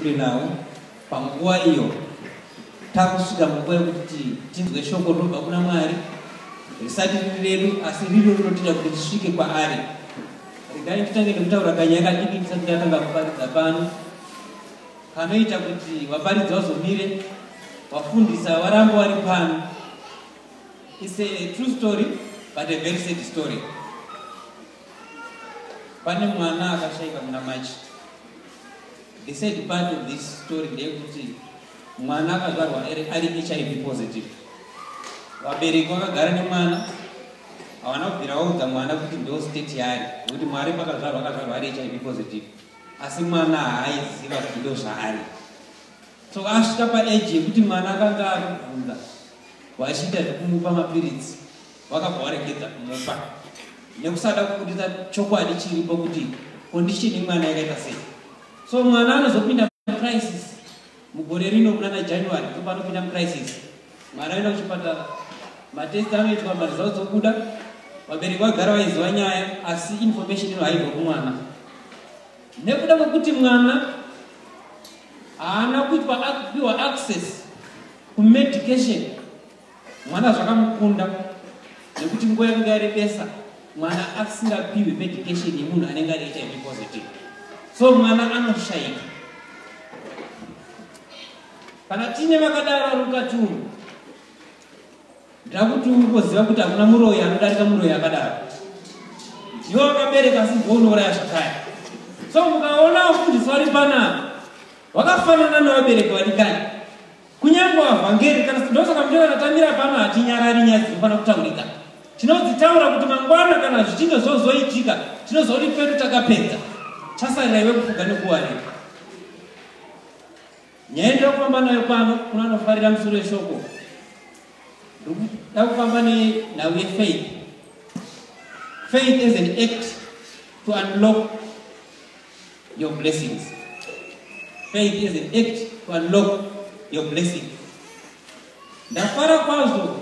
kure nawo panguva iyo takusvika munguva yekuti tinzwe shoko rinobva kuna mwari risati riri redu asi riri rinotoita kuti tisvike kwaari regai titange nekutaura kanyaya kadiki tisati tatanga kuparidza pano kanoita kuti vaparidzi vazomire vafundisa varamba vari pano is a true story but a very sad story pane mwana akashaika muna machi the sad part of this story ndeyekuti mwana akazvarwa ari hiv positive vabereki vakagara nemwana havana kubvira vaudza mwana kuti ndo state yaari nekuti mwari pakazvarwa akazvarwa ari hiv positive asi mwana haaiziva kuti ndo zvaari so asvika paeji yekuti mwana akanga akubvunza vachiita zvekumupa mapiritsi vakabva varegedza kumupa nekusada kubuditsa chokwadi chiripo kuti kondishini yemwana yakaita sei so mwana anozopinda mucrisis mugore rino munana january topanopinda mucrisis mwana aenda kuchipatara matesti anoitwa maresults okuda vabereki vagara vaiziva nyaya asi information ino haibva kumwana nekuda kwekuti mwana haana kuitwa kupiwa access kumedication Mwana zvakamukunda nekuti nguva yanenge yarebesa mwana asingapiwi medication yemunhu anenge ari hiv positive so mwana anoshaika kana tine vakadaro ari mukati umu ndakuti ungoziva kuti hakuna muroyi anodarika muroyi akadaro iwe wakabereka asi ndounouraya zvakaya so mukaona wafundiswa ri panapa wakafanana nevabereki vadikani Kunyangwa vhangeri kana ndosaka mjeva tatamira pano hatinyarari nyaya dzinofana kutaurika. Tinodzitaura kuti mangwana kana zvichinge zvozoitika tinozoti pedu takapedza. Chasarira iwe kufuga nekuwarira. Nyaya ndokufamba nayo pano kuna nofarira musoro weshoko. Ndikuda kufamba nenhau yefaith. Faith is an act to unlock your blessings. Faith is an act to unlock your blessings. Ndafara kwazvo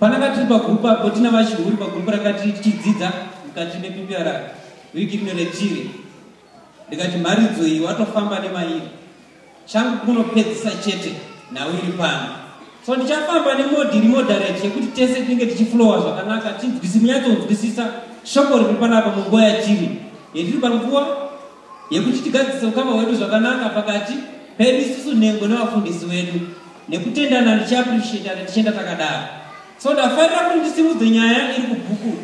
pananga tiri pagrupu apo tina vachihuri pagrupu ranga tiri tichidzidza mukati mepipiara wiki rino retiri ndikati mharidzo iyi watofamba nemairi changu kunopedzisa chete nhau iri pano so ndichafamba nemodhi iri moderate yekuti tese tinenge tichiflowa zvakanaka tinzwisi munyatsonzwisisa shoko riri panapa munguva yatiri yetiri panguva yekuti tigadzise ukama hwedu zvakanaka pakati pedu isusu nhengo nevafundisi wedu nekutendana ndichiappreciatane tichienda takadaro so ndafarira kuti ndisimudze nyaya iri kubhuku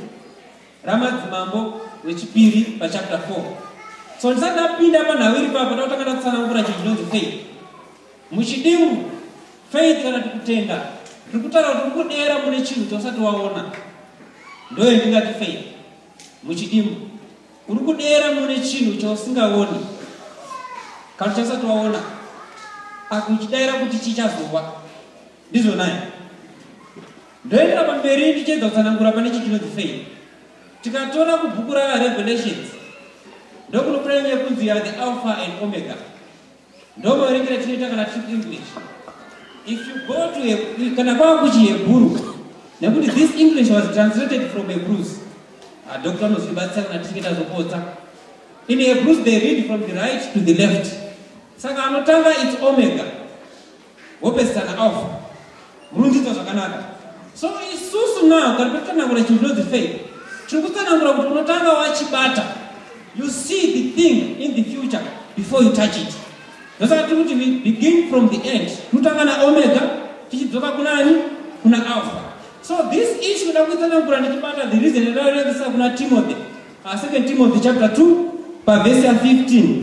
ramadzimambo rwechipiri pachapter 4 so ndisati ndapinda panhau iri papa ndakutanga ndakutsanangura chinhu chinonzi faith muchidimu faith kana tikutenda tiri kutaura kuti kudera mune chinhu chausati waona ndoyo ndingati faith muchidimu uri kudera mune chinhu chausingaoni kana chausati waona akuchidaira kuti chichazova ndizvo naye Ndoenda pamberi ndichiedza kutsanangura pane chi chinonzi faith. Tikatora kubhuku ra Revelations ndokunoprenya kunzi ya the alpha and omega. Ndomaverengera tinoita kana tiri English. If you go to a, kana kwava kuchihebhuru nekuti this English was translated from Hebrews. Ah, Dr. Nozvibatsira kana tichinge tazopotsa. In Hebrews they read from the right to the left. Saka anotanga it's omega. wopesana off rundidzo zvakanaka so isusu now kana patitsanangura chinhu chinonzi faith tiri kutsanangura kuti unotanga wachibata you see the thing in the future before you touch it ndosaka tiri kuti we begin from the end tinotanga naomega tichidzoka kunani kuna alpha so this issue da kuitsanangura ndichibata the reason ndairevisa kuna timothy uh, second timothy chapter 2 pavhesi ya 15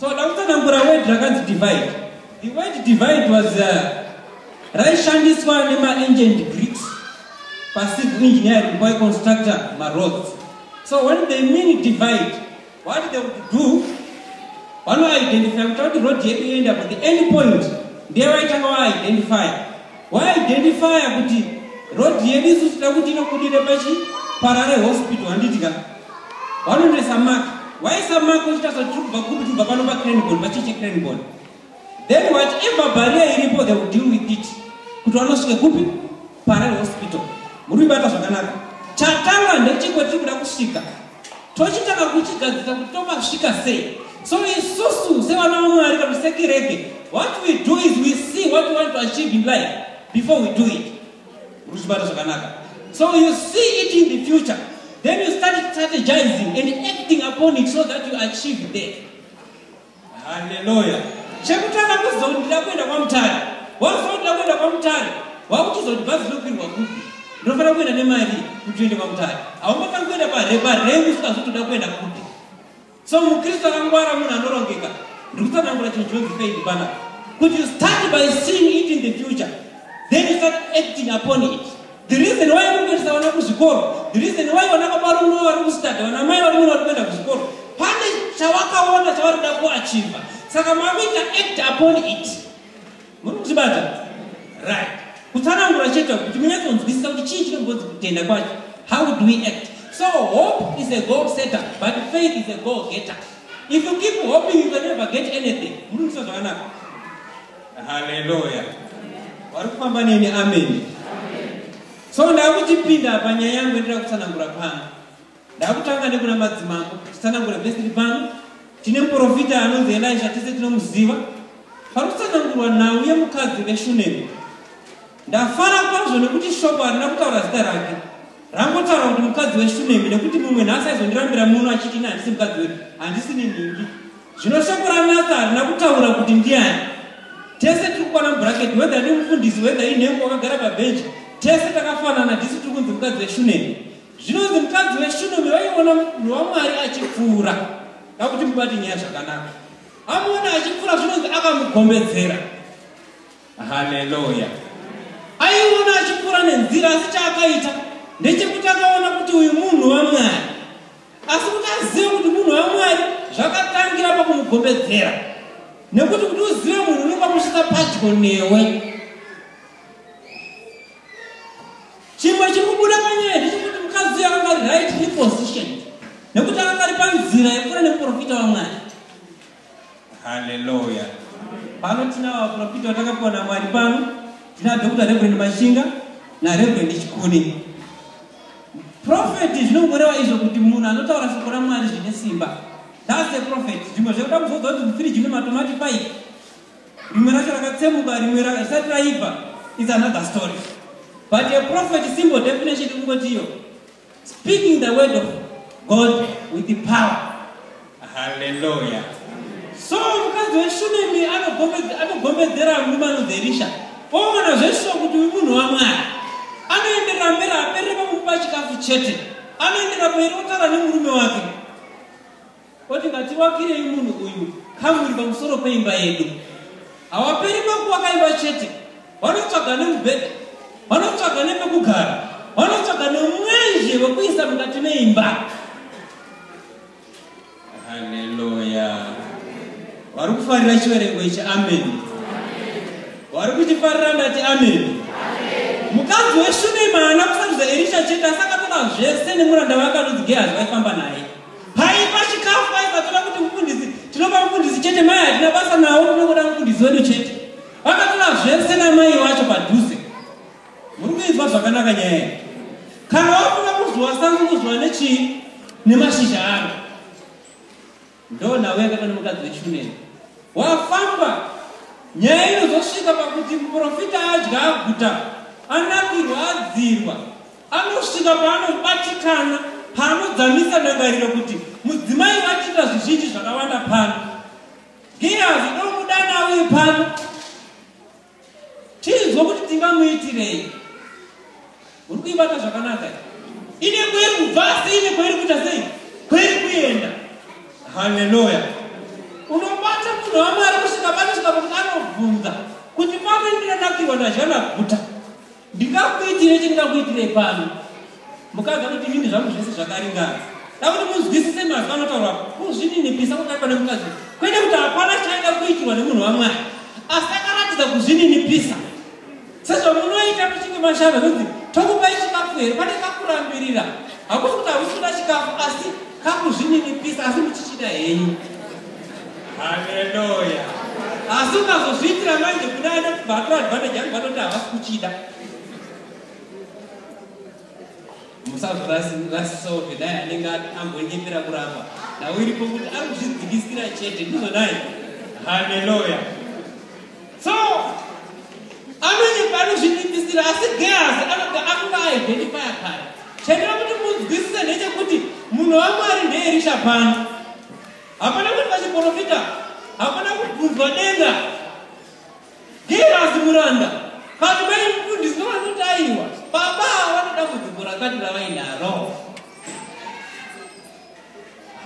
So ndakutsanangura word rakanzi divide. The word divide was uh, raishandiswa nema-ancient Greeks pacivil engineering by constructor maroads. So when they mean divide, what they would do, vanoidentify kuti road yedu yoenda kuti any point ndiye vaitanga vaidentify waidenifaya kuti rodhi yedu isu tida kuti inobudire pachi parare hospital handiti ka wanonesa mak waisa mak uchitasa tiri kubva kupi tubva pano pacranbon pachiche cranbon then whatever baria iripo they will deal with it kuti wanosvike kupi parare hospital muri kuibata zvakanaka chatanga ndechiko tiri kuda kusvika tochitanga kuchigadzirisa kuti tomasvika sei so isusu sevana vamwari kana sekirege what we do is we see what we want to achieve in life before we do it ruchibata zvakanaka so you see it in the future then you start strategizing and acting upon it so that you achieve there Hallelujah. Chekutanga kuzondida kuenda kwamutare. Wazondida kuenda kwamutare. Wakuchizoti bhazi lokwirwa kupi? Ndinofanira kuenda nemari kuti uende kwamutare. Haungofanira kuenda pare pare usikazotoda kuenda kupi. So muKristu akangwara munhu anorongeka. Ndikutsanangura chinhu chinonzi faith bana. Could you start by seeing it in the future? Then you start acting upon it. The reason why uri kuendesa vana kuzvikoro, the reason why vana baba vari muno vari kusitadha, vana mai vari muno vari kuenda kuzvikoro, pane chavakaona chavari kuda kuachiva, saka makuita act upon it. Muri kuzvibata? Right. Kutsanangura chete kuti munyatsonzwisisa kuti chii chinombonzi kutenda kwacho. How do we act? So hope is a goal setter, but faith is a goal getter. If you keep hoping, you can never get anything. Muri kuzvibata zvakanaka? Haleluya. Wari kufamba neni amen. So ndakuchipinda panyaya yangu ndira kutsanangura pano. Ndakutanga nekuna madzimambo tsanangura vhesi ri pano. Tine muprofita anonzi Elisha tese tinomuziva. Pari kutsanangurwa nhau yemukadzi veShunemi. Ndafara kwazvo nekuti shoko harina kutaura zita rake. Rangotaura kuti mukadzi weShunemi nekuti mumwe nhasi aizondirambira muno achiti ini handisi mukadzi wedu, handisi nenhingi. Zvino shoko raNathan harina kutaura kuti ndiani. Tese tiri kukwana mubraketi, whether ndi mufundisi, whether inhengo wakagara pabhenji, tese takafanana, tisu tiri kunzi mukadzi weshunemi. Zvinonzi mukadzi weshunemi vaiona munhu waMwari achipfuura, kakuti mubati nyaya zvakanaka. Amuona achipfuura zvinonzi akamugombedzera. Haleluya. Aiona achipfuura nenzira asi chaakaita ndechekuti akaona kuti uyu munhu waMwari. asi kuti azive kuti munhu wamwari zvakatangira pakumugombedzera nekuti kuti uzive munhu unenge wamusvitsa padyo newe chimwe chiri kubuda panyaya ndechekuti mukadzi uyo akanga ari right reposition nekuti akanga ari panzira yekura nemuprofita wamwari Hallelujah. Pano tina vaprofita vatakapiwa naMwari pano. Tina Dr. Reverend Mashinga na Reverend Chikuni. Prophet zvinongorewa izvo kuti munhu anotaura shoko raMwari zvine simba. That's a prophet. Zvimwe zvekuda kuzodza kuti mufiri zvine matomati pai. Rimwe racho rakatsemuka rimwe rakasati raiva. It's another story. But a prophet simple definition kungoti iyo. Speaking the word of God with the power. Hallelujah. So mukadzi weshunemi anogombedzera murume anonzi Erisha. Oona zveshuwa kuti uyu munhu waMwari. Anoenderera mberi aperere pamukupa chikafu chete. Anoenderera mberi otaura nemurume wake. Oti ngativakirei munhu uyu kamuri pamusoro peimba yedu. Hawaperi pakuwaka imba chete, vanotsvaga nemubhedha, vanotsvaga nepekugara, vanotsvaga nemwenje wekuisa mukati meimba. Haleluya! Vari kufarira chiverengo ichi, ameni. Vari kuchifarira ndati ameni. Mukadzi weshunemana kusarudza Erisha chete asakatoda zvese nemuranda wake anonzi Gehazi vaifamba naye. Paiva chikafu vaiva toda kuti mufundisi tinopa mufundisi chete mai hatina basa nawo tinongoda mufundisi wedu chete. Vakatora zvese namai wacho padhuze. Muri kuizwa zvakanaka nyaya iyi. Kana wakuda kuzwa sango kuzwa nechii nemashizha aro. Ndo nawe yakaita nemukadzi wechuneni. Wafamba nyaya inozosvika pakuti muprofita adya aguta anakirwa adzirwa Anosvika paanobatikana, paanodzamisa ndangariro kuti mudzimai vachiita zvizhinji zvakawanda pano. Giyazi ndomudana uyu pano, tinzwa kuti tingamuitirei. Uri kuibata zvakanaka ine kweri kubva asi ine kweri kuita sei kweri kuenda. Haleluya! Unobata munhu wamwari kusvika panosvika pakuti anobvunza kuti pano ndinonakirwa nazvana guta ndingakuitire chindingakuitire pano mukadzi anoti inini zvangu zvese zvakaringana dakuti muzwisise mazwi anotaura kuzvininipisa kudai pane mukadzi kwete kuti hapana chaida kuitirwa nemunhu wamwari asi akaratidza kuzvininipisa sezvamunoita muchinge mashava kuti tokupai chikafu here pane kakurambirira hakusi kuti hakusi kuda chikafu asi kakuzvininipisa asi muchichida henyu haleluya asi ukazozviitira manje kuda ane kubatura advantage anhu vanoti havasi kuchida musazorasisawo vedai anenge amboenyepera kuramba nhau iripo kuti ari kuzvidzikisira chete ndizvo dai haleluya So, anonyepa anozviningisira asi Gehazi anobva akuva aidhenifaya kare. Chandira kuti munzwisise ndechekuti munhu waMwari ndeErisha pano. Hapana kuti vachiprofita, hapana kubvunzwa denga. Gehazi muranda, vanhu vari mufundisi novanoti aiwa, baba vanoda kudzimbo rakati ravainaro.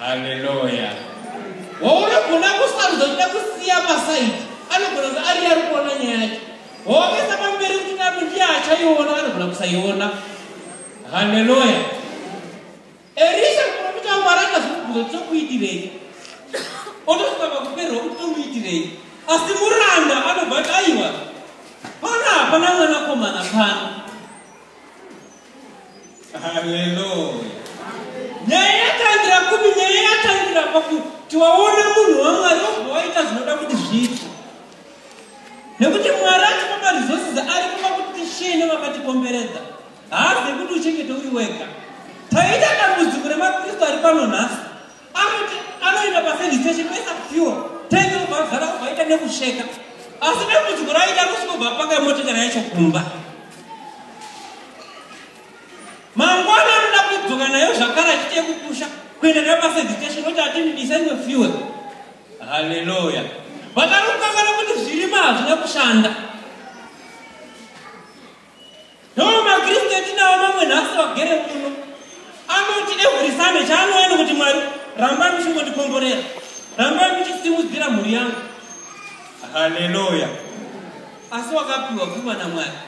Hallelujah. Waunogona kusarudza kuda kusiya pasaidi anogona kuti ari ari kuona nyaya yacho waomesa pamberi kuti nano ndiye achaiona anogona kusaiona haleluya erisha kuprofita mwari akazvibvunza kuti tokuitirei otosvika pakuperwa kuti tomuitirei asi muranda anobva kuti aiwa pana hapana mwanakomana pano Haleluya. Nyaya yatangira kupi? Nyaya yatangira pakuti waona munhu waMwari wobva waita zvinoda kuti zviitwe. Nekuti Mwari atipa maresources aripo pakuti tishiye nevakatikomberedza. Haazi kuti uchengete uri wega. Taita dambudziko remaKristu ari pano nhasi. Anoti anoenda paservice station pesa fuel tenge kubvazara kuvaita nekusheka asi dambudziko raita kusvikobva apaka motikari yacho kumba mangwana anoda kudzoka nayo zvakare achiti yekukusha kuenda nayo paservice station oti atinidisa imwe fuel haleluya vakarukangana kuti zvirima hazvina kushanda ndomakristu etinawo mamwe nhasi vagere kuno anoti every sunday chaanoenda kuti mwari rambai muchingondikomborera rambai muchisimudzira mhuri yangu haleluya asi wakapiwa pfuma namwari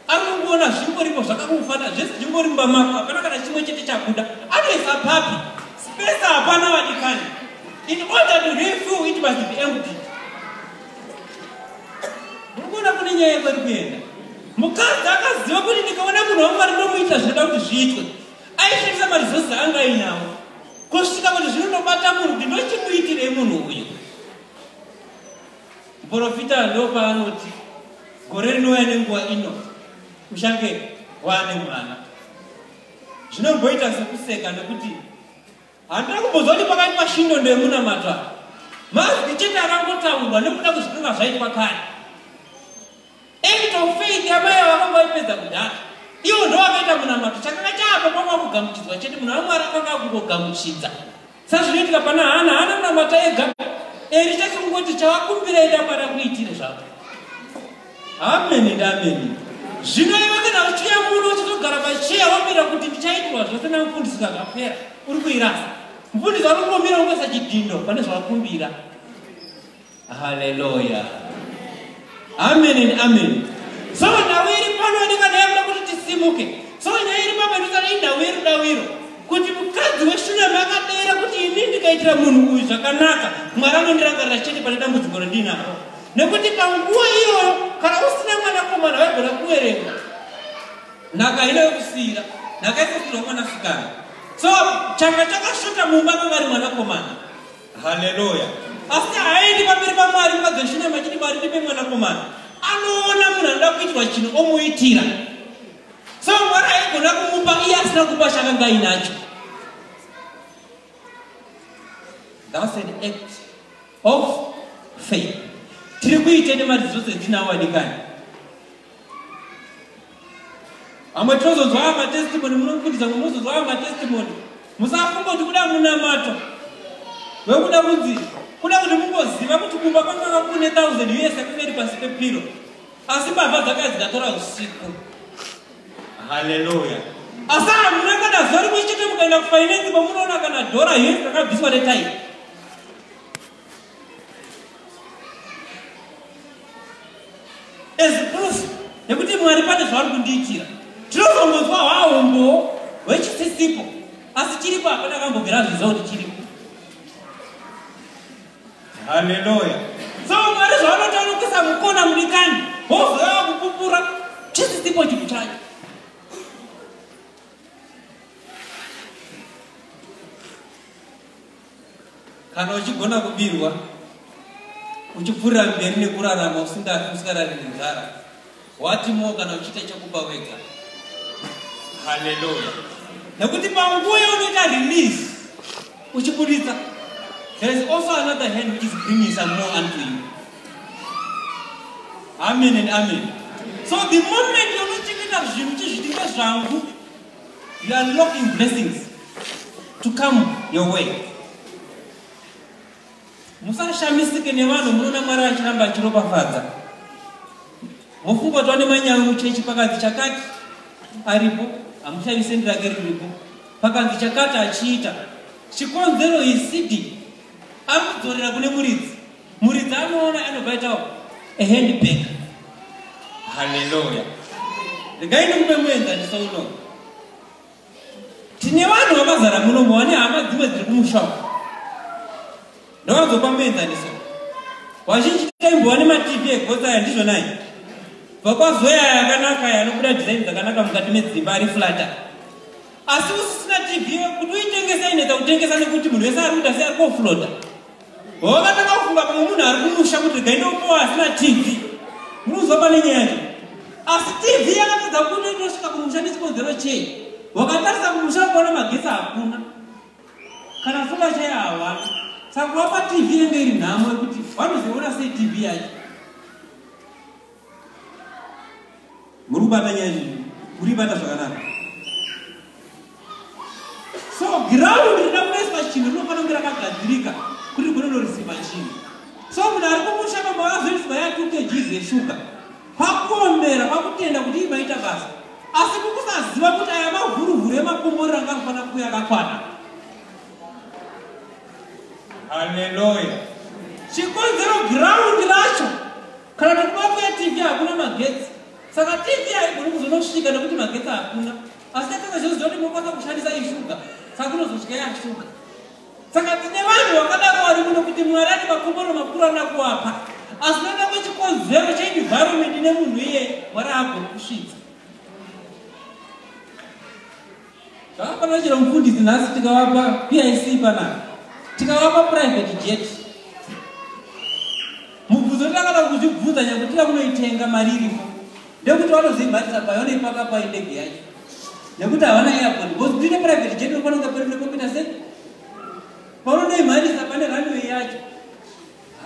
anongoona zvingoripo zvakakufanira zvese zvingori mumba mako hapana kana chimwe chete chabuda anoisa papi spesa hapana vadikani in order to refill it must be empty Mukona kune nyaya kweri kuenda. Mukadzi akaziva kuti ndikaona munhu wangu ari ndomuita zvinoda kuti zviitwe. Aishandisa marizosi anga ainawo. Kusvika kuti zvinondobata munhu kuti ndochimuitirei munhu uyu. Muporofita ndopaanoti gore rinouya nenguva ino uchange waane mwana. Zvinomboita sekuseka nekuti Handina kumbozwa kuti pakati mashindo ndemunamata. Mazwi chete akangotaurwa nekuda kuzvitunga zvaitwa kare. Act of faith yamai ava vakanga vaipedza kudhara. Iwo ndo vakaita munamato chakanga chaapo kwanga kugamuchidzwa chete munhu wamwari akanga akungogamuchidza. Sazvinoitika pana Hana, Hana munamata ega. Eri chake kungoti chawakumbira enda mwana kuitire zvako. Ameni ndameni. Zvino iwe kana uchiuya muno uchizogara pacheya wamira kuti ndichaitirwa zvose namufundisi zvakapera uri kuirasa. Mufundisi anongomira ungoisa chidhindo pane zvawakumbira. Haleluya. Ameni and ameni. So nhau iri pano ndika ndayakuda kuti tisimuke. So nyaya iri papa ndosana inhau yerudaviro kuti mukadzi weshunami akadeera kuti ini ndikaitira munhu uyu zvakanaka mwari anondirangarira chete pane dambudziko randinaro. nekuti panguva iyoyo kana usina mwanakomana waigona kuwerenga nhaka ino yokusiyira nhaka isasirwa mwanasikana so changa chakashota mumba mavari mwanakomana haleluya asi haaendi pamberi pamwari mukadzoshinda machiti mwari ndipe mwanakomana anoona munhu anoda kuitirwa chinhu omuitira so mwari aigona kumupa iye asina kupa chakanga inacho thats an act of faith tiri kuite nemari dzose dzinawo vadikani amwe tinozonzwa aya matestimony munokundisa mwe munozonzwa aya matestimony musafunga kuti kuda munamato vekuda kunzi kuda kuti mungoziva kuti kumba kwakanga kune thousand us yakanga iri pasi pepiro asi mbavha dzakaya dzikatora usiku Haleluya. Asi hamuna kana zuva rimwe chete mukaenda kufinance pamunoona kana dhora hesi rakabviswa netaipi. As proof nekuti Mwari pane zvavari kundiitira. Tinozongonzwa hwaumbo hwechisisipo asi chiripo hapana kambobvira zviziva kuti chiripo. Hallelujah. So Mwari zvaanotaura kuisa mukona mudikani, wozouya kupupura chisisipo chinhu chacho. Kana uchigona kubirwa uchipfurira mberi nekurarama usingarari nenzara What more kana uchiita chekuba wega. Hallelujah. Nekuti panguva yaunoita release uchiburitsa there is also another hand which is bringing some more unto you. Amen and amen. So the moment younochengeta zvinhu chizvitinga zvangu you are locking blessings to come your way. musashamisike nevanhu munoona mwari achiramba achiropafadza mofunga kuti vane manyawi muchechi pakanzi chakati aripo hamushaise ndirake riripo pakanzi chakati achiita chikonzero isidi ari kudzorera kune muridzi muridzi anoona anobva itawo ahandbag haleluya regai ndikupe muenzaniso unowu tine vanhu vakazara muno muvane hama dzimwe dziri kumusha uku ndovazopa muenzaniso vazhinji taimbova nematv egotsa aya ndizvonai bva kwazoya yakanaka yanobuda dhizaini dzakanaka mukati medzimba ari flata asi usisina tv kuti uitengesa inetsa kutengesa nekuti munhu wese ari kuda seari koflota hova ndakafunga pamwe munhu ari kumusha kuti regai ndokupowa asina tv munozwa pane nyaya yacho asi tv yakatadza kuno inosvika kumusha nechikonzero chei wakatarisa kumusha kuona magetsi hakuna kana funga chai hawana saka wapa tv inenge iri nhamo yekuti vanozoona sei tv yacho muri kubata nyaya izvi muri bata zvakanaka so giraundi rina kunaiswa chinhu rinofanira kunge rakagadzirika kuti rinonorisiva chinhu so munhu ari kumusha pamba vazoiswa ya two kgs yeshuga kwakuombera kwakutenda kuti imaita basa asi kukusaziva kuti aya mavhuruvhuru emakomborero anga anofanira kuya akakwana haleluya chikonzero giraundi racho Kana kuti kubafu ya TV hakuna magetsi. Saka TV haigoni kuzonosvika nekuti magetsi hakuna. Asi takanga zvinhu zvoti mokwanisa kushandisa ishuga. Saka kunozosvika ya shuga. Saka tine vanhu vakadaro vari kuno kuti Mwari ane makomoro makuru ana kuwapa. Asi noda kwechikonzero cheenvironment nemunhu iye Mwari haagoni kusvitsa. Zvakapana chero mufundisi nhasi tikavapa PIC pana tikavapa private jet. Mubvunzo takada kuzvibvunza nyakuti vakunoitenga mari irimo. Ndekuti vanozoibhatisa payo vanoipaka pai ndege yacho. Nekuti havana airport because kuita private jet unofana kunge pari nekombita sei. Paunonoimharisa pane runway yacho.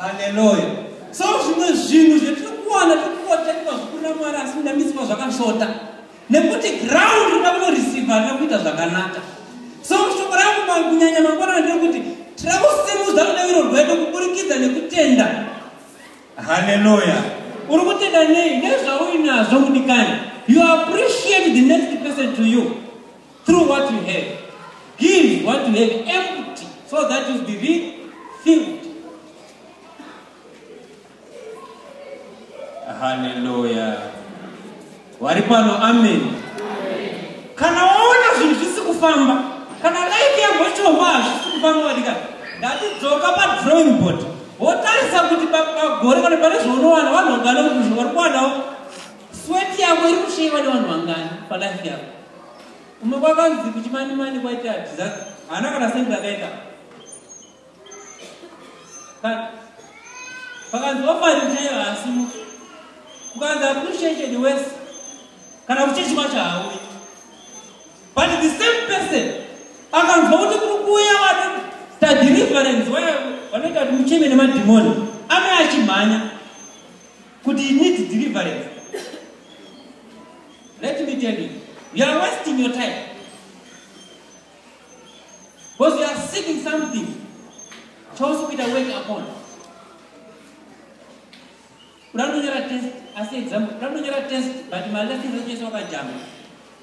haleluya so zvimwe zvinhu zvetiri kuwana tiri kuotekwa zvikurira mwari asi ndamisiwa zvakashota nekuti ground rina kunoreceive harina kuita zvakanaka so shoko rangu kunyanya mangwanana ndiri kuti tira kusimudza rudeviro rwedu kuburikidza nekutenda haleluya uri kutenda nei nezvauinazvo mudikani you appreciate the next person to you Through what you have. Give what you have empty so that you be refilled. Hallelujah. Wari pano amen. Kana waona zvinhu zvisi kufamba, kana life yako ichomba hazvisi kufamba wadika. Ndatidzoka pa drawing board. Wotarisa kuti pagore kana pane zvaunowana vanhu vangana kuti zvavari kuwanawo. Sweat yako iri kushaiwa nevanhu vangani pa life yako. Kumwe kwakanzi kuchimanimani kwaita disaster. Haana kana sendi rakaita. Pakanzi ofari chaiyo haasimo. Kukanzi appreciated worse. Kana kuchechi kwacho hauyi. But the same person akanzwa kuti kuri kuuya vana tadeliverance vaya vanoita kuti mucheme nemadhimoni ame achimhanya kuti you need deliverance let me tell you you are wasting your time because you are seeking something chose kuita work upon unanonyora test asi exam unanonyora test but malessons achese wakajama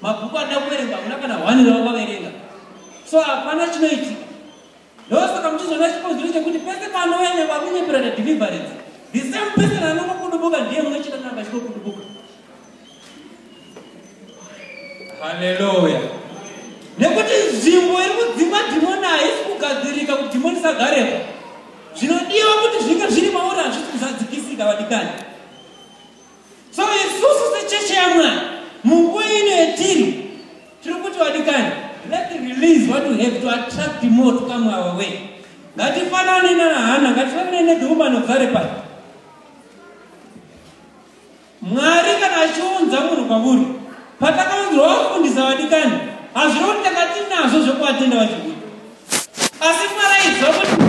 mabhuku ada kuverenga una kana one rawakaverenga so hapana chinoitika Ndosaka muchizoona chikonzero chekuti pese panouya nyangwe akunyepera nedeliverance the same person anongokudubuka ndiye munochita nanga achinokudubuka haleluya nekuti nzvimbo iri kudzimwa dhimoni haisi kugadzirika kuti dhimoni isagarepo zvinodiwa kuti zvinge zviri mauri hazvisi kuzadzikisika vadikani so isusu secheche yamwari munguva ino yetiri tiri kuti wadikani let release what you have to attract more to come our way ngatifanane nahana ngatifanane nedhumano dzare pai mwari kana achiunza munhu kwamuri patakaunzirwa wafundisa vadikani hazviri kuti takati nazvo zvekuvatenda vachikuti asi mwari aiziva kuti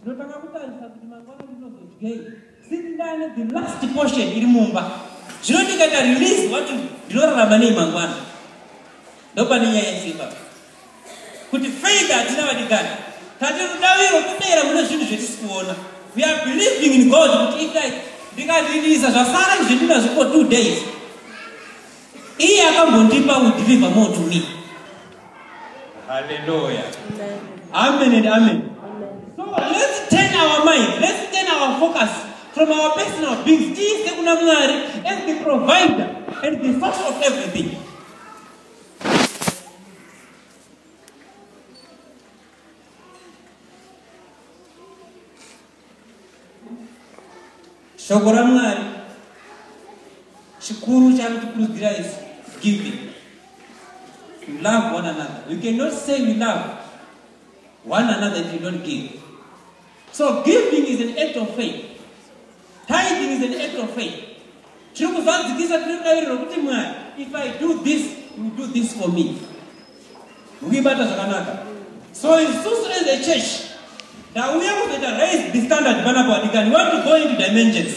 ndinotanga kutarisa kuti mangwana ndinozodyei since ndane the last portion iri mumba zvino ndikaita release wati ndinorarama nei mangwana ndopane nyaya yese ipapo kuti faith hatina vadikani tati rudaviro kudera kune zvinhu zvetisi kuona we are believing in god kuti itai ndikadhidisa zvasara izvendinazvo for two days iye akambondipa u deliver more to me halleluya amen and amen so let's turn our mind let's turn our focus from our personal beings tiise kuna mwari as the provider and the source of everything shoko ramwari chikuru chaakutikurudzira is giving you love one another you cannot say you love one another if you don't give So giving is an act of faith. Tithing is an act of faith. Tiri kuzadzikisa tiri daviriro kuti Mwari, if I do this, you do this for me. Mukibata zvakanaka. So isusu as a church, ndauya kuzoita raise the standard panapa wadikani. We want to go into dimensions.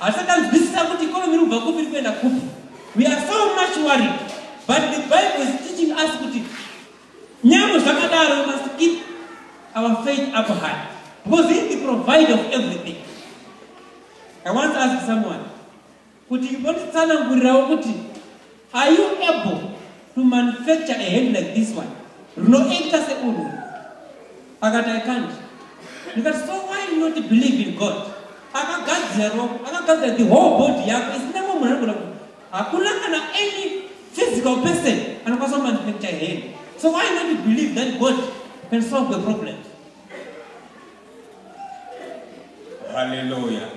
Asi akanzwisisa kuti ikonomi iri kubva kupi iri kuenda kupi. We are so much worried but the Bible is teaching us kuti nyangwe zvakadaro we must keep our faith up high because he is the provider of everything. I once asked someone kuti vonditsanangurirawo kuti Are you able to manufacture a hand like this one? Rinoita seunhu. Akati I can't. Ndikati so why you not believe in God? Akagadzira ropa, akagadzira the whole body yako isina mumwe munhu anogona kuti hakuna kana any physical person anokwanisa kumanufacture a hand. So why not you believe that God can solve the problem? Hallelujah.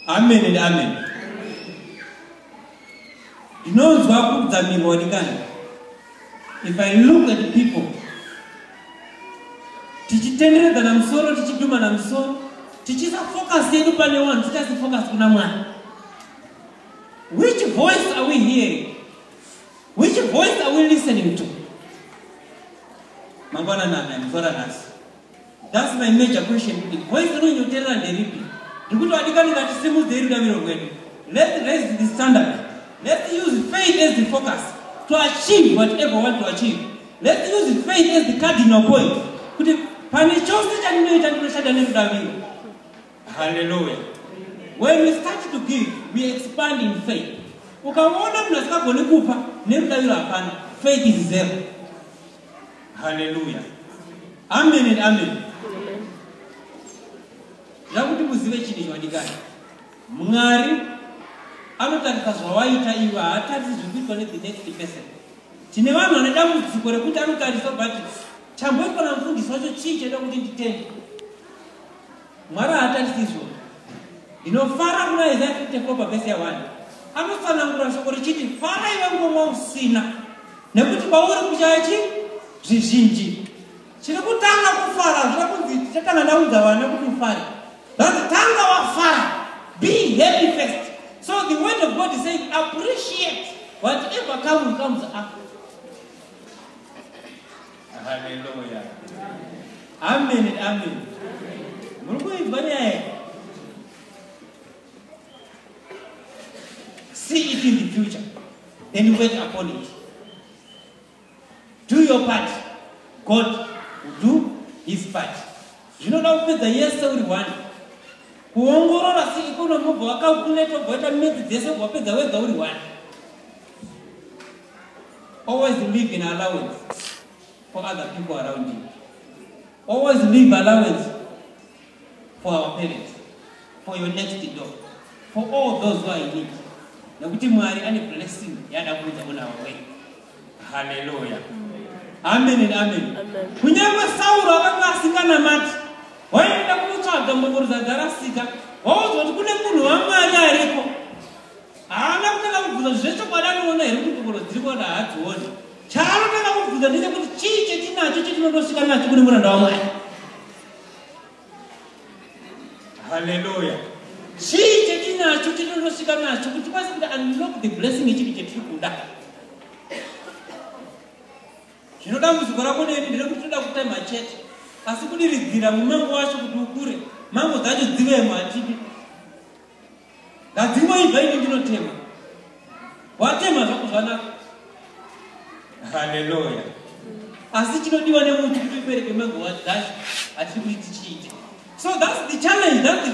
amen and amen ndinonzwa kudzamirwa ndikani if i look at people tichitenderedzana musoro tichidumana musoro tichiisa focus yedu pane one tichaisa focus kuna mwana which voice are we hearing which voice are we listening to mangwana nana mzora nasi That's my major question today. Voice rino nyoterera nderipi? Ndikuti wadikani ngati simu dzei rudaviro rwedu. Let's raise the standard. Let's use faith as the focus to achieve whatever we want to achieve. Let's use faith as the cardinal point. Kuti pane chose chandinoita ndinoshanda nerudaviro. Hallelujah. When we start to give, we expand in faith. Ukaona munhu asikagoni kupa nerudaviro hapana. Faith is zero. haleluya amen and amen ndakuti muzive chinhu chawadikani mwari anotarisa zvawaita iwe haatarisi zviri kuitwa nethe next person tine vanhu vane dambudziko rekuti anotarisa but chamboitwa namufundisi wacho chii chaida kuti nditende Mwari haatarisi izvozvo. Ndinofara kuna Isaiah 54 pavhesi ya-1. Anotsanangura shoko richiti, Fara iwe ngomwa usina, nekuti kwauri kuchaya chi zvizhinji. Chiri kutanga kufara, zvira kunzi tichatanga ndaudza vana kuti ufare. Zvanzi tanga wafara, be happy first. So the word of God is saying, appreciate whatever comes, comes after. Haleluya. Amen and amen. Muri kuinzwa nyaya here? See it in the future and wait upon it. Do your part. God will do his part. Zvinoda kupedza yese uri one. Kuongorora si economy ubva wakakuleta ubva waita midzi dzese ubva wapedza wega uri one. Always leave an allowance for other people around you. Always leave allowance for our parents, for your next door, for all those who are in need. Nekuti Mwari ane blessing yaada kuudza kuna wewe. Hallelujah. Amen and amen. Kunyange Sauro akanga asinganamati, waienda kunotsvaga mbongoro dzadarasika, waudzwa kuti kune munhu waMwari ariko. haana kutanga kubvunza zvechokwadi anoona here kuti kokoro dziri kuona haadzioni chaanotanga kubvunza ndechekuti chii chetinacho chetinondosvika nacho kune muranda wamwari haleluya chii chetinacho chetinondosvika nacho kuti kwasi kuti unlock the blessing yechiri chetiri kuda zvino dambudziko rako neni nderekuti toda kutema chete asi kudiridzira mumango wacho kuti ukure mango dzacho dzivemo hatidi Gadzimai vaini ndinotema. Watema zvako zvanaka. Haleluya. Asi chinodiwa nemuntu kuti upereke mango wa dash atiri kuti tichiite. So that's the challenge that the,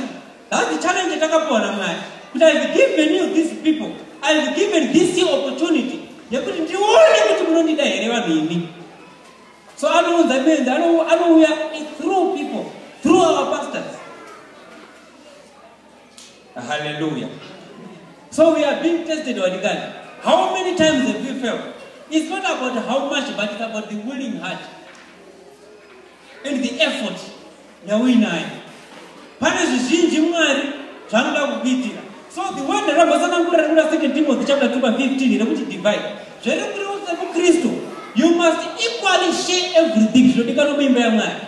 that's the challenge yatakapuwa naMwari. Kuti I've given you these people. I've given this you opportunity yekuti ndione kuti munondida here vanhu imi. So anounza benzi anouya through people, through our pastors. Hallelujah. So we are being tested by the God. How many times have you failed? It's not about how much, but it's about the willing heart and the effort yauinayo. Pane zvizhinji Mwari zvanoda kukuitira. So the word rakambosanangurira rekuda second Timothy chapter 2 verse 15 rekuti divide. Zvere kuri wose kuKristu, you must equally share everything zvinodikanwa muimba yaMwari.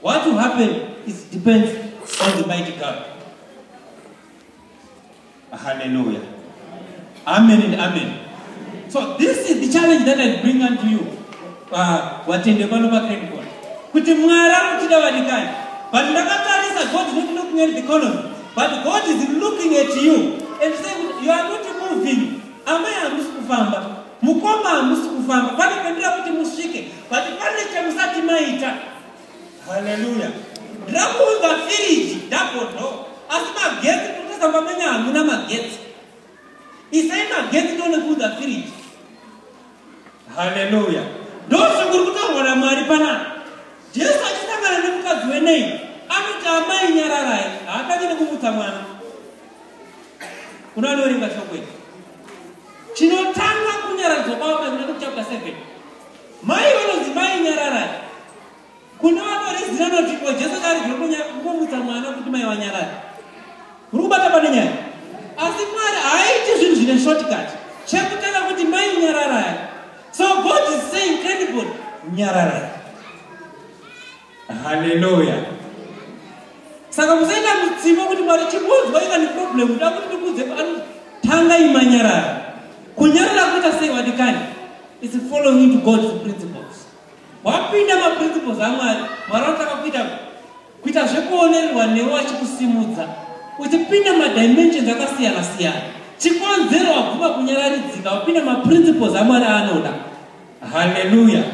What will happen is depends on the mighty God. Hallelujah. Amen and amen. So this is the challenge that I bring unto you. Uh, watende pano pa credit card. Kuti Mwari anochida vadikani. But ndakatarisa God is not looking at the economy. But God is looking at you and saying you are not moving. Amai hamusi kufamba. Mukoma hamusi kufamba. Pane pendira kuti musvike. but pane chamusati maita haleluya ndirakuunza firiji ndagodo asi magetsi kutesa pamenya hamuna magetsi isai magetsi ndone kuunza firiji haleluya ndozvikuri kutaurwa namwari panapa jesu achisangana nemukadzi wenei anoti amai nyararai haatange nekumutsa mwana kuna anoringa shokwei chinotanga kunyaradzwa kwavo painoda kuchapta 7 Mai vanonzi mai nyararai. Kune vanorizira noti ko Jesu kari zvekunya kumutsa mwana kuti mai vanyarara. Kuri kubata pane nyaya. Asi Mwari haaiti zvinhu zvine shortcut. Chekutanga kuti mai nyararai. So God is saying credible nyararai. Hallelujah. Saka musaita mutsimo kuti mwari chikunzwa ika neproblem kuda kuti ndikuudze pano tanga imanyarara. Kunyarara kuita sei wadikani? It's following to God's principles. Wapinda maprinciples aMwari, Mwari anotaka kuita kuita zvekuonererwa newe wachikusimudza. Uchipinda madimensions akasiyana siyana. Chikonzero wabvuma kunyararidzika, wapinda maprinciples aMwari aanoda. Hallelujah.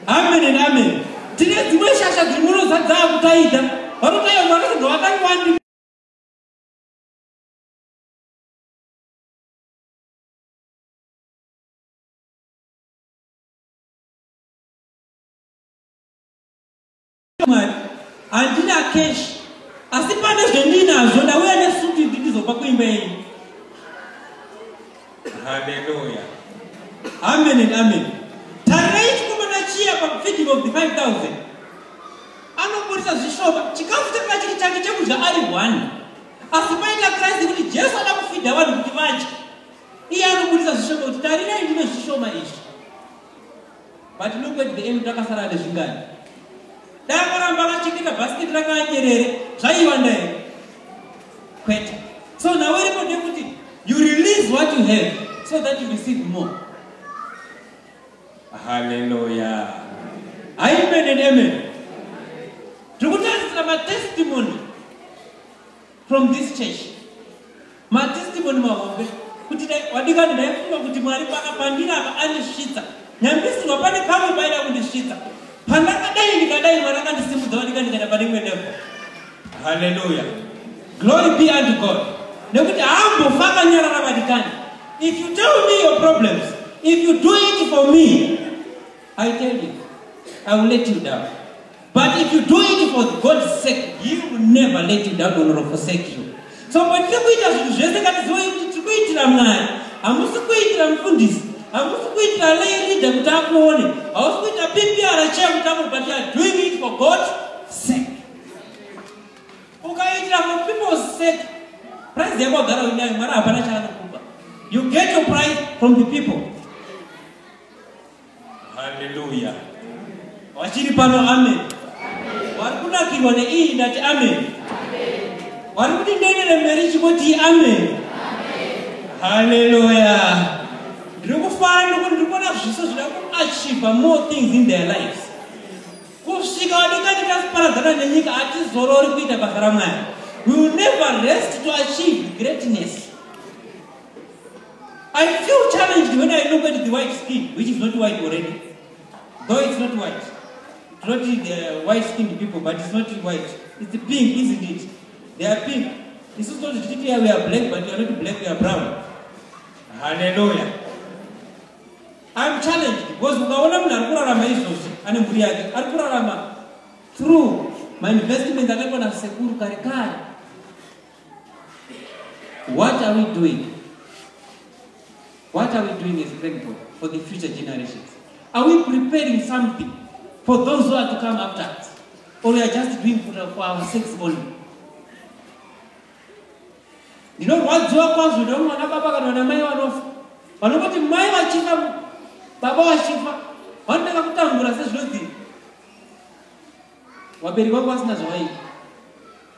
Amen and amen. Tine dzimwe shasha dzimwe dzadzaa kutaida. Vanotaya mwana kuti wakangwani. mari handina cash asi pane zvendinazvo ndauya nesuti ndizopa kuimba yenyu haleluya amen and amen tarirai chikomana chiya pafeeding of the 5000 anoporisa zvishoma chikafu chakanga chiri chake chekudya ari one asi paita kristu kuti jesu ada kufidha vanhu kuti vadye iye anoburisa zvishoma kuti tarirai ndine zvishoma izvi But look at the end takasara nezvingani. Danga ramba vachikita basket rakanyerere zvaiva ndai. Kwete. So now where do you put it? You release what you have so that you receive more. Hallelujah. Amen and amen. Tikutasira matestimony from this church matestimony mahombe kuti wadikani ndaifunga kuti mwari pandiri apa andisvitsa nyambisirwa pane pamwe paida kundisvitsa pandakadai ndikadai mwari akandisimudza wadika ndikaenda pane imwe nepo haleluya glory be unto god nekuti haambofa akanyarara vadikani if you tell me your problems if you do it for me i tell you i will let you down But if you do it for God's sake, He will never let you down or forsake you. So patiri kuita zvinhu zvese ngatizive kuti tiri kuitira Mwari, hamusi kuitira mufundisi, hamusi kuitira lay leader kuti akuone, hausi kuita PPR chair kuti akuone, but you are doing it for God's sake. Ukaitira for people's sake, prize yako agara uinayo, Mwari hapana chaanokupa. You get your prize from the people. Hallelujah. Wachiri pano amen. Wari kunakirwa neiyi ndati amen. Wari kuti ndenere mberi chingoti amen. Hallelujah. Ndiri kufara nekuti ndiri kuona zviso zvida kuachiva more things in their lives. Kusvika wadikati tasiparadzana nenyika hatizorori kuita basa ramwari. We will never rest to achieve greatness. I feel challenged when I look at the white skin, which is not white already. Though it's not white. It's not the uh, white skinned people, but it's not white. It's pink, isn't it? They are pink. This is not the we are black, but we are not black, we are brown. Hallelujah. I'm challenged because ukaona munhu ari kurarama izvozvi ane mhuri yake ari kurarama through mainvestment akaitwa nasekuru kare kare What are we doing? What are we doing as Greenbrook for the future generations? Are we preparing something for those who are to come after us? Or we are just doing for, for our sakes only? ndinorwadziwa kwazvo ndikuti mwana baba kana vana mai vanofa vanongoti mai vachifa baba vachifa vanotanga kutambura sezvinodii wabereki vangu vasina zvavaita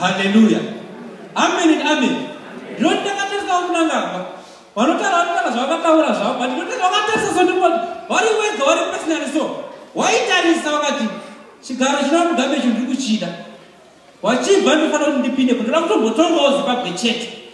haleluya ameni ameni ndinoti ndakatarisa vamunangagwa vanotaura vanotaura zvavakataura zvavo but ndinotaura vakatarisa so ndinoti vari wega vari pesinari so waitarisa vakati chigaro chinova mugambe chinhu ndiri kuchida wachibva ndinofanira kuti ndipinde kundoda kutombotongawo zimbabwe chete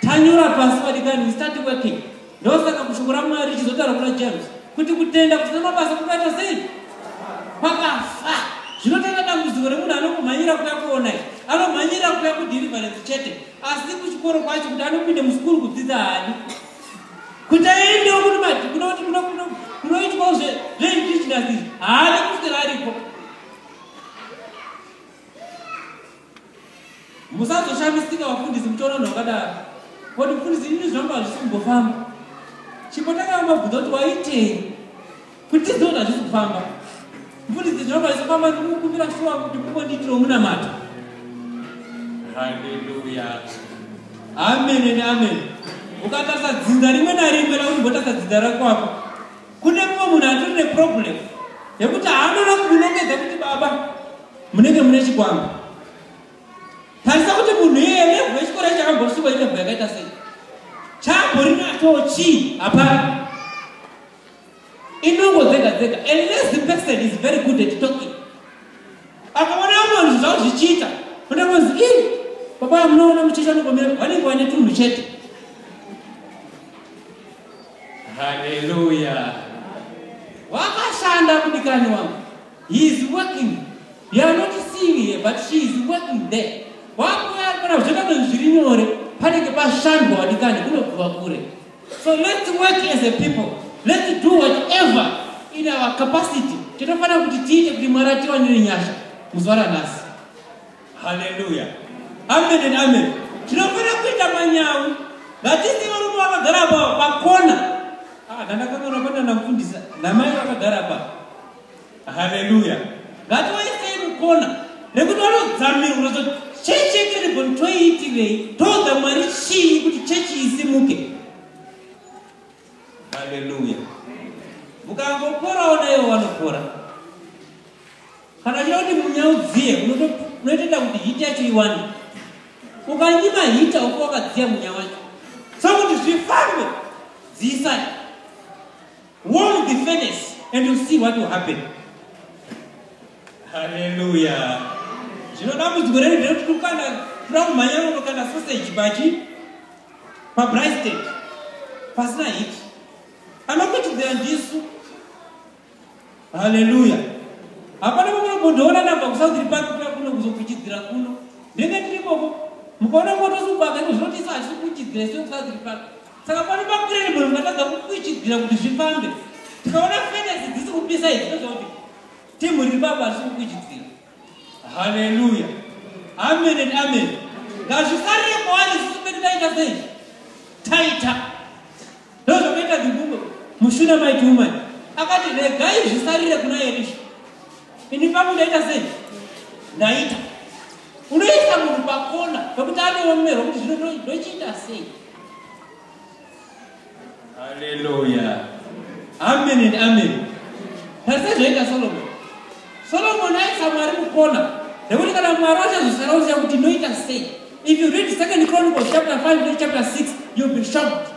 tanyora pasi vadikani we start working ndosaka kushoko ramwari richizotaura kuna james kuti kutenda kusina mabasa kunoita sei kwakafa zvinotenda dambudziko remunhu anokumhanyira kuya kuona i anomhanyira kuya kudhirivarensi chete asi kuchikoro kwacho kuti anopinde musikuru kudzidza hani kuti aendewo kuti mati kunoti kunoitwawo zveindichinazi haadi kusera ariko musazoshamisika vafundisi muchiona vanhu vakadaro koti mufundisi ini zvangu hazvisi kumbofamba chimbotanga vamabvunza kuti waitei kuti tiziva kuti hazvisi kufamba mufundisi zvangu hazvisi kufamba ndikukumbira shuwa kuti mukondiitiro munamato haleluya amen and amen ukatarisa dzinza rimwe narimwe lakuti mbotarisa dzinza rakwako kune mumwe munhu atori neproblem yekuti haanoda kukunongedza kuti baba munenge mune chikwambo tarisa kuti munhu iyeye nevhu yechikoro ichakambosvikwa inevhu yakaita sei chambori nacho chii hapana inongo dzega dzega a lazy person is very good at talking akaona vamwe vanhu zvavo zvichiita kuda kunzi i baba munoona muchiita nokomira vanenge vane tunhu chete haleluya wakashanda kudikani wangu He is working. You are not seeing here, but she is working there. Wakuya kana kuchenda kwenyu zviri nyore, panenge pashandwa wadikani kunobva kure. So let's work as a people. Let's do whatever in our capacity. Tinofanira kuti tiite kuti Mwari atiwanire nyasha muzuva ranhasi. Hallelujah. Amen and amen. Tinofanira kuita manyawi. Vatisi varume vakagara pakona. Ah, ndandakakona kwenda namfundisa. Namai vakagara pa. haleluya ngatiwaisei mukona nekuti vanodzamirwa unozoti chechi yekeribhoni toiitirei toudza mwari chii kuti chechi isimuke haleluya mukangoporawo naivo vanopora kana chida kuti munyaudziye unotoita kuti hiti yacho iwane ukanyima hita uko wakadziya munya wacho sokuti zvifambe dziisai Warm the furnace and you see what will happen. Hallelujah. Zvino dambudziko redu ndere kukanda kuda kumhanya kunokanda sausage pachi pabrysted pasina hit anokuchidzira ndisu haleluya hapana pamwe kundoona namba kusaudiri pake kuya kuno kuzokuchidzira kuno ndenge tiri koko mukaona moto subaka ino zvinotiisa hachiri kuchidzira isu kusaudiri pake saka pano pakurenibolo ndatadza kukwichidzira kuti zvifambe tikaona fenesi dzisi kupisa izvi toziva kuti timu riri baba risi kukwichidzira haleluya amen and amen ngazvisarire kwaari sisi pedu taita sei taita ndozvakaita dzibumbo mushuna maiti umani akati regai zvisarire kuna erisha ini pangu ndaita sei ndaita unoisa munhu pakona pekuti anoomerwa kuti zvino ndochiita sei Hallelujah. Amen and amen. Tarisa zvaita Solomon. Solomon aisa Mwari mukona. Nekuti kana Mwari achazosara uziva kuti inoita sei. If you read Second Chronicles chapter 5 to chapter 6, you'll be shocked.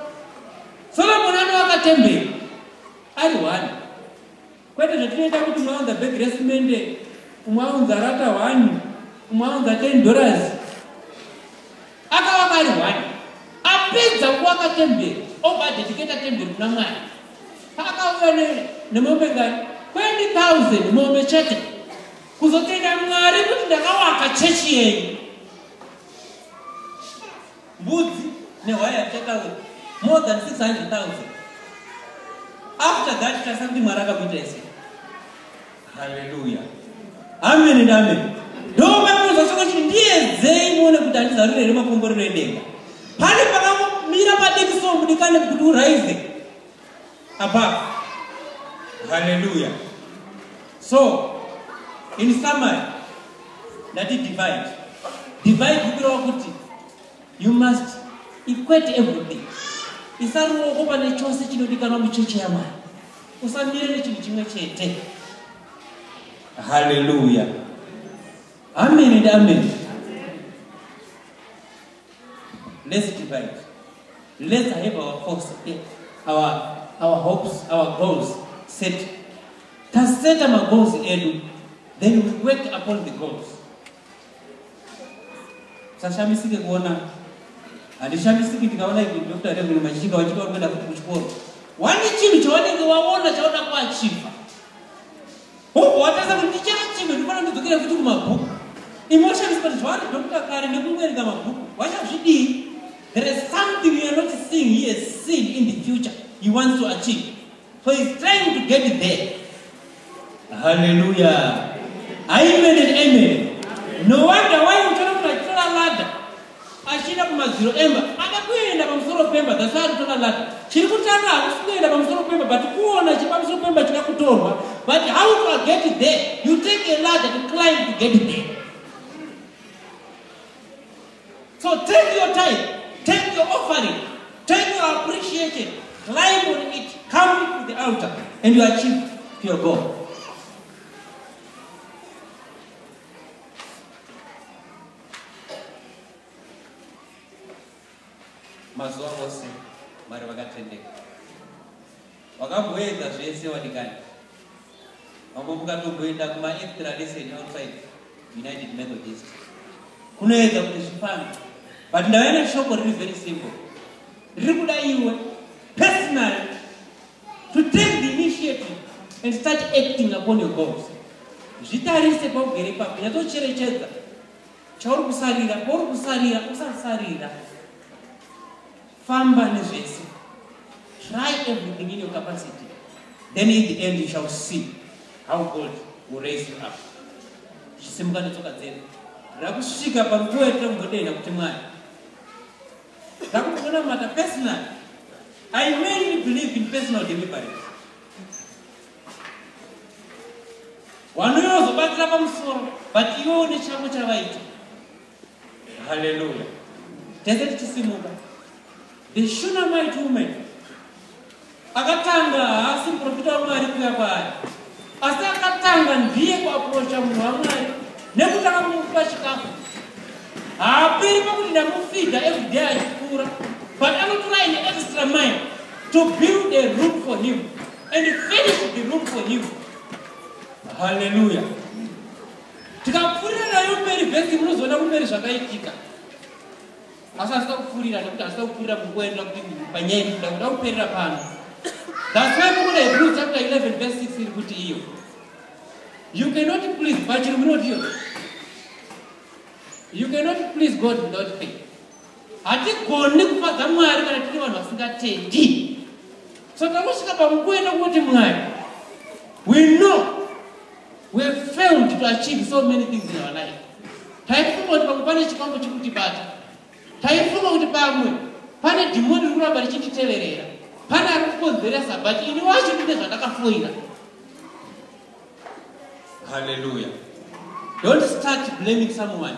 Solomon anovaka temberi ari one. Kwete zvatinoita kuti umwe aunza bhegi resimende, umwe aunza rata hwani, umwe aunza ten dollars. Akavaka ari hwani, apedza kuvaka temberi, obva adediketa temberi kuna Mwari. Paakauya nemombe ngani, 20,000 mombe chete, kuzotenda Mwari kuti ndakavaka chechi yenyu. mbudzi nehwaya yateka we more than 600000 after that tasa kuti mwari akakuita ese haleluya amen and amen ndomamuzosoko chiti ndiyedzei muone kuti handizarure here makomborero edenga pane pakamira padekisomudikane kuti uraize above hallelujah so in summary ndati divide divide kukureva kuti you must equate everything isa ruoko pane chose chinodikanwa mucheche yamwari usamire nechinhu chimwe chete hallelujah amen and amen Let's divide. Let's have our force, eh, our, our hopes, our goals set. Taseta ma goals edu, then we work upon the goals. Sashamisike kuona, handishamisiki ndikaona ivi Dr. Reverend Machika wachika wanoenda kuchikoro. Wani chinhu chawanenge waona chaoda kuachiva. Hobho watarisa kuti ndichava chimwe ndinofanira kudzokera futi kumabhuku. Emotions but zvavari Dr. Kare nekungoerenga mabhuku vachazvidii? There is something you are not seeing he has seen in the future he wants to achieve. So he is trying to get it there. Hallelujah. Amen and amen. No wonder why you cannot like Ladder. achienda kumadziro emba ada kuenda pamusoro pemba that's why arikutora lati chiri kutanga hakusi kuenda pamusoro pemba but kuona chiri pamusoro pemba chida kutorwa but how to get it there you take a ladder to climb to get it there so take your time take your offering take your appreciation climb on it come to the altar and you achieve your goal mazuva ose mwari vakatendeka wakamboedza zvese wadikani vamwe mukatomboenda kumaextra lesson outside united methodist kunoedza kuti zvifambe but ndavana shoko riri very simple riri kuda iwe personally to take the initiative and start acting upon your goals zvitarise paugere pako nyatsocherechedza chauri kusarira pauri kusarira usasarira famba nezvese try everything in your capacity then in the end you shall see how god will raise you up zvisimukane tsoka dzedu rakusvika panguva yatira kuti mwari ndakutonamata personal i mainly believe in personal deliverance wanouya wazobatira pamusoro but iwe une chako chavaita haleluya tese tichisimuka the shunamite woman Akatanga haasi muprofita waMwari kuya kwaari, asi akatanga ndiye kuapurocha munhu waMwari nekutanga kumupa chikafu. Haaperi pakuti ndamufidha everyday achikura, but anotora an extra mile to build a room for him and finish the room for him. Hallelujah. Tikapfuurira nayo mberi vhesi munozoona kumberi zvakaitika. asi hazvida kupfuurira nekuti hazvida kupfuurira munguva inoda kuti panyaya iri kuda kuda kuperera pano thats why mukuna hebrew chapter 11 verse 6 iri kuti iyo you cannot please pachiri munoti iyo you cannot please god without faith hatigoni kufadza mwari kana tiri vanhu vasingatendi So takusvika pamukuwo yetokuti Mwari, we know we have failed to achieve so many things in our life. Taifunga kuti pamwe pane chikwambo chikutibata. Taifunga kuti pamwe pane dhimoni riri kuramba richititeverera. Pane ari kukonzeresa but ini wacho ndine zvandakafoira. Hallelujah. Don't start blaming someone.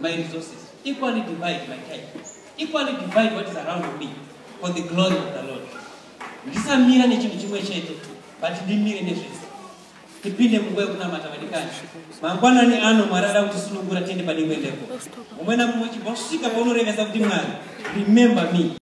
my resources, equally divide my time, equally divide what is around me for the glory of the Lord. Ndisamira nechinhu chimwe chete, but ndimire nezvese. Tipinde munguva yekunamata vadikani. Mangwanani ano Mwari ada kutisunungura tiende pane imwe level. Umwe namumwe chibva kusvika paunorevesa kuti Mwari, remember me.